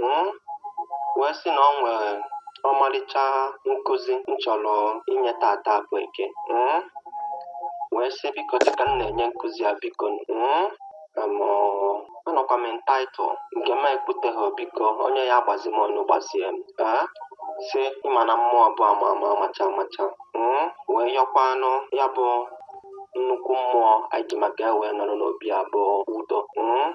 m wee sị na ọ nwere ọmarịcha nkụzi m chọrọ inye taata bụ eke m wee sị biko dịka m na-enye nkụzi a biko m em, ọ, anọkwa m entitled nke m ekwuteghị biko onye ya agbazi m onye gbazie m ee si ịma na mmụọ bụ ama ama amacha amacha m wee yọkwanụ ya bụ nnukwu mmụọ anyị ji maka ya wee nọrọ n'obi a bụ udo m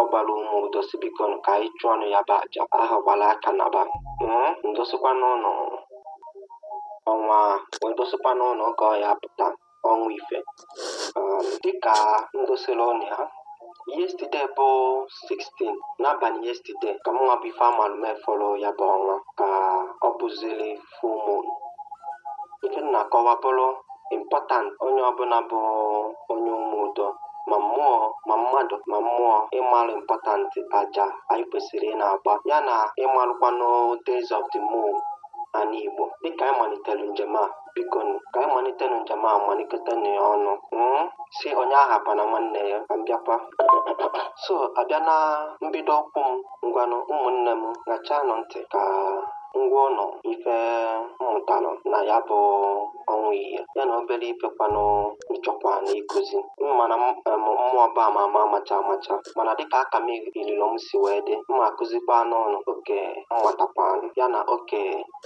ọ gbara ụmụ udo si biko nụ ka anyị chụọnụ ya bụ aja ahụ gbara aka na ba Mm, m dosikwanụ ụnụ ọnwa wee dosikwanụ ụnụ oge ọ ya-apụta ọnwa ife Um, dịka m dosiri ụnụ ya yesterday bụ 16 n'abalị yesterday ka mụnwa bụ Ifeamalume fụrụ ya bụ ọnwa ka ọ bụziri full moon nke m na-akọwa bụrụ important onye ọbụla bụ onye ụmụ udo ma mmụọ ma mmadụ ma mmụọ ịmarụ important aja anyị kwesịrị ị na-agba ya na ịmarụkwanụ days of the moon n'ala Igbo dịka anyị malitere njem a biko nụ, ka anyị malitenụ njem a malikọtanụ ya ọnụ mm? si onye ahapụna nwanne ya ka m bịakwa so abịa na mbido okwu m Ngwanụ ụmụnne m ṅachaanụ ntị ka m gwa ụnụ ife m mụtalụ na ya bụ ọnwa iya ya na obere ifekwanụ m chọkwanụ ịkụzi mana m em, mmụọ bụ ama ama amacha amacha mana dịka aka m ililo m si wee dị m akụzikwanụ ụnụ oke m matakwanụ ya na oke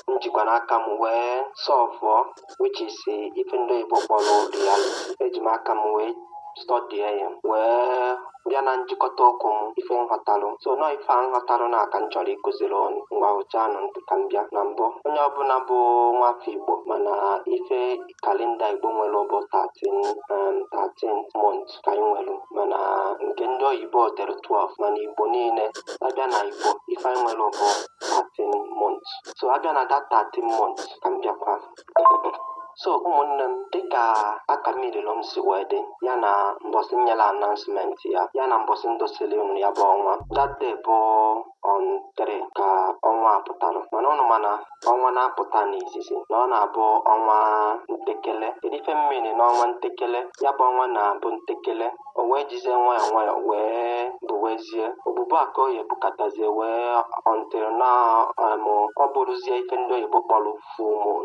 m jikwa n'aka m wee sọvụọ which is eh, ife ndị oyibo kpọrọ reality eji m aka m wee stọdie ya wee bịa na njikọta okwu m ife m ghọtalụ so na ife a m ghọtalụ n'aka m chọrọ ịkụziri ụnụ ngwa ṅachaanụ ntị ka m bịa na mbụ onye ọbụla bụ nwafọ Igbo ma na ife kalenda Igbo nwere bụ 13 um, 13 months anyị nwere mana nke ndị oyibo dere 12 mana igbo niile abịa na igbo ife anyị nwere bụ 13 months so abịa na that 13 months ka m bịakwa so ụmụnne m dịka aka mmirilu m si wee dị ya na mbọsị m nyere announcement ya ya na mbọsị m dosili unu ya bụ ọnwa that day bụ on 3 ka ọnwa a pụtara mana ụnụ ma na ọnwa na-apụta n'izizi na ọ na-abụ ọnwa ntekele kedu ife m mean n'ọnwa ntekele ya bụ ọnwa na-abụ ntekele o wee jizie nwayọọ nwayọọ wee buwezie obubu ka ọ ya bukatazie wee until na um, ọ bụrụzie ife ndị oyibo kpọrọ full moon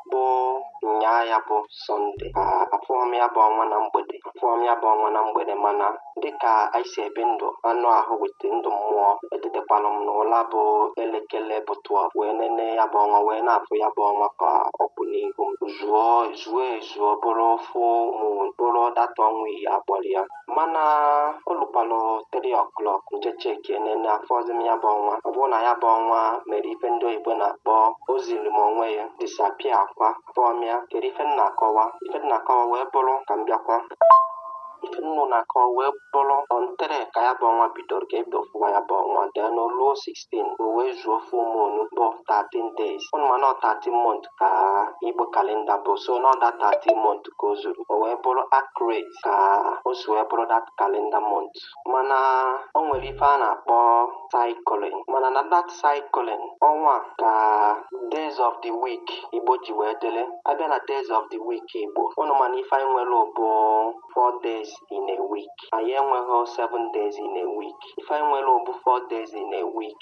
bụ nyaa ya bụ Sunday afụọ m ya bụ ọnwa na mgbede afụọ m ya bụ ọnwa na mgbede mana dịka anyị si ebi ndụ anụ ahụ with ndụ mmụọ etetekwalụ m n'ụla bụ elekere bụ 2 wee nene ya bụ ọnwa wee na-afụ ya bụ ọnwa ka ọ kwụ n'ihu m zuo zuo ezuo bụrụ full moon bụrụ that ọnwa ife a kpọrọ ya mana o lukwanụ 3 o'clock m jee cheki enene afụzi m ya bụ ọnwa ọ bụrụ na ya bụ ọnwa mere ife ndị oyibo na-akpọ o ziri m onwe ya disapia akwa kpọọ m ya kedu ife m na-akọwa ife m na-akọwa wee bụrụ ka m bịakwa ife m na-akọwa wee bụrụ on 3rd ka ya bụ ọnwa bidoro ka e bido fụwa ya bụ ọnwa dee n'oluo 16 o wee zuo full moon bụ 13 days ụnụ ma na 13 month ka igbo kalenda bụ so na ọ that 13 month ka o zuru o wee bụrụ accurate ka o si wee bụrụ that kalenda month mana o nwere ife a na-akpọ cycling mana na that cycling ọnwa ka days of the week igbo ji wee dịrị a bịa na days of the week igbo ụnụ ma na ife anyị nwere bụ 4 days in a week anyị enweghị 7 days in a week ife anyị nwere bụ 4 days in a week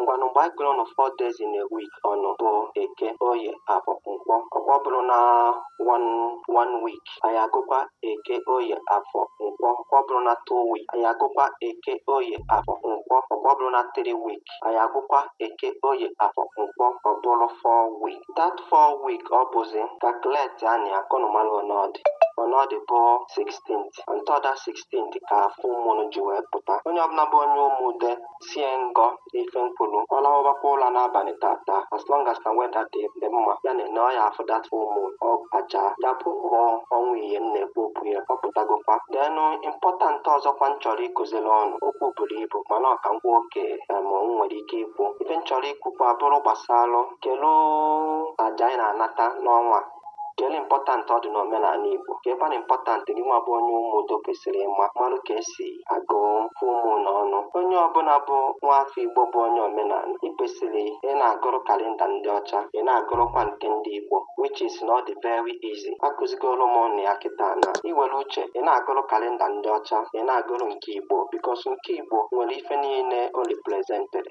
ngwanụ mgbe anyị gụrụ ọnụ four days in a week ọnụ bụ eke oye afọ nkwọ ọkwa ọ bụrụ na one week anyị agụkwa eke oye afọ nkwọ ọkwa ọ bụrụ na two week anyị agụkwa eke oye afọ nkwọ ọkwa ọ bụrụ na three week anyị agụkwa eke oye afọ nkwọ ọ bụrụ four week that four week ọ bụzi calculate anyị akọnụmalụ ọnọdụ ọnọdụ bụ 16th on that 16th ka full moon ji wee pụta onye ọbụla bụ onye ụmụ udo sie ngọ n'ife m kwulu ọ lawabakwa ụla n'abalị tata as long as na weather dị mma ya na-ene ọ ya-afụ that full moon ọ ga-acha ya bụ mmụọ ọnwa ihe m na-ekwu okwu ya ọ pụtagokwa denụ impọtant ọzọkwa m chọrọ ịkụziri ụnụ okwu buru ibu mana ọ kakwa oke em m nwere ike ikwu ife m chọrọ ikwukwa bụrụ gbasalụ kelu aja anyị na-anata n'ọnwa kele ịmpọtantị ọ dị n'omenala Igbo kekwanụ ịmpọtantị gị nwa bụ onye ụmụ udo kwesịrị ịma marụ ka e si agụ full moon na ọnụ onye ọbụla bụ nwa afọ Igbo bụ onye omenala ị kwesịrị ị na-agụrụ kalenda ndị ọcha ị na-agụrụkwa nke ndị Igbo which is na ọ dị very easy akụzigoro m ụnụ ya kịta na i nwere uche ị na-agụrụ kalenda ndị ọcha ị na-agụrụ nke Igbo because nke Igbo nwere ife niile o represented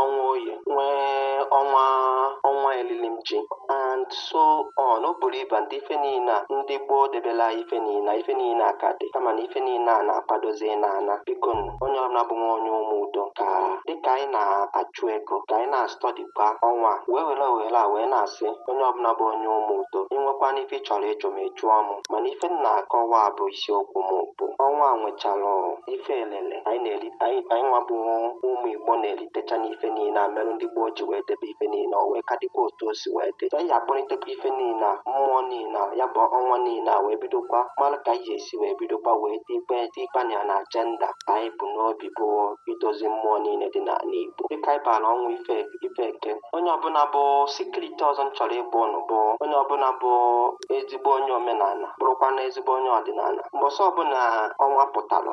ọnwa anyị nwee ọnwa ọnwa elili ji and so on o buru ibu ndị ife niile a ndị gboo debela ife niile a, ife niile a ka dị kama na ife niile a na-akwadozi n'ala biko nụ, onye ọbụla bụ nwa onye ụmụ udo ka dịka anyị na-achụ ego ka anyị na-astọdikwa ọnwa a, wee were ohere a wee na-asị onye ọbụla bụ onye ụmụ udo i nwekwanụ ife ị chọrọ ịjụ m ị jụọ m mana ife m na-akọwa bụ isiokwu m bụ ọnwa a nwechara ife elele anyị na-eri anyị anyị nwa bụ ụmụ igbo na-eritecha n'ife niile a merụ ndị gboo ji wee debe ife niile o wee ka dịkwa otu o si wee dị anyị akpọlitekwa ife niile a mmụọ niile a ya bụ ọnwa niile a wee bidokwa mara ka anyị ga-esi wee bidokwa wee tikpe tikpe na ya na ajenda anyị bu n'obi bụ idozi mmụọ niile dị n'ala igbo dịka anyị bara ọnwa ife ife eke onye ọbụla bụ sekuriti ọzọ m chọrọ ịgwa ụnụ bụ onye ọbụla bụ ezigbo onye omenala bụrụkwa na ezigbo onye ọdịnala mbọsị ọbụla ọnwa pụtara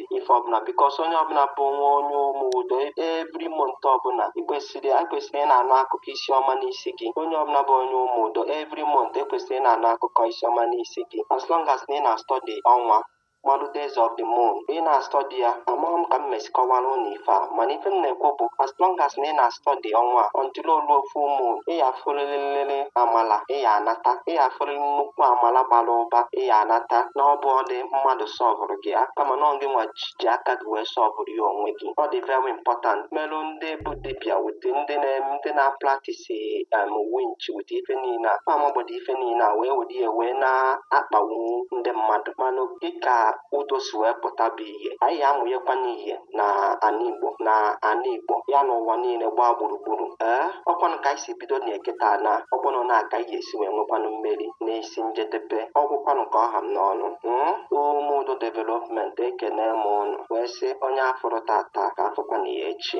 ife ọbụla because onye ọbụla bụ nwa onye ụmụ udo every month ọbụla ikwesịrị ekwesịrị ị na-anụ akụkọ isi ọma n'isi gị onye ọbụla bụ onye ụmụ udo every month ekwesịrị ị na-anụ akụkọ isi ọma n'isi gị as long as na ị na-astudy ọnwa ma ọ bụ days of the moon ị na-astudy ya amaghị m ka m mesi kọwara unu ife a mana ife m na-ekwu bụ as long as na ị na-astudy ọnwa iri olu ofu ụmụ ị ya-afụrịrị nlele amala ị ya-anata ị ya-afụrịrị nnukwu amala bara ụba ị ya-anata na ọ bụrọdị mmadụ solvụrụ gị ya kama na ọ gịnwa ji ji aka gị wee solvụrụ ya onwe gị ọ dị very important merụ ndị bụ dibịa with ndị na- ndị na-apractise um, winch with ife niile a fa amagbado ife niile a wee were ya wee na-akpagbu ndị mmadụ mana dịka udo si wee pụta bụ ihe anyị amụnyekwanụ ihe na ana igbo na ana igbo ya na ụwa niile gbaa gburugburu ee ọkwanụ ka anyị si bido na-eketa na ọkwanụ na aka ihe e si wee nwekwanụ mmeri n'isi njedebe ọ gwụkwanụ ka ọ ha m n'ọnụ mm? ume udo development ekene m unu wee sị onye a fụrụ taata ka a fụkwanụ ya echi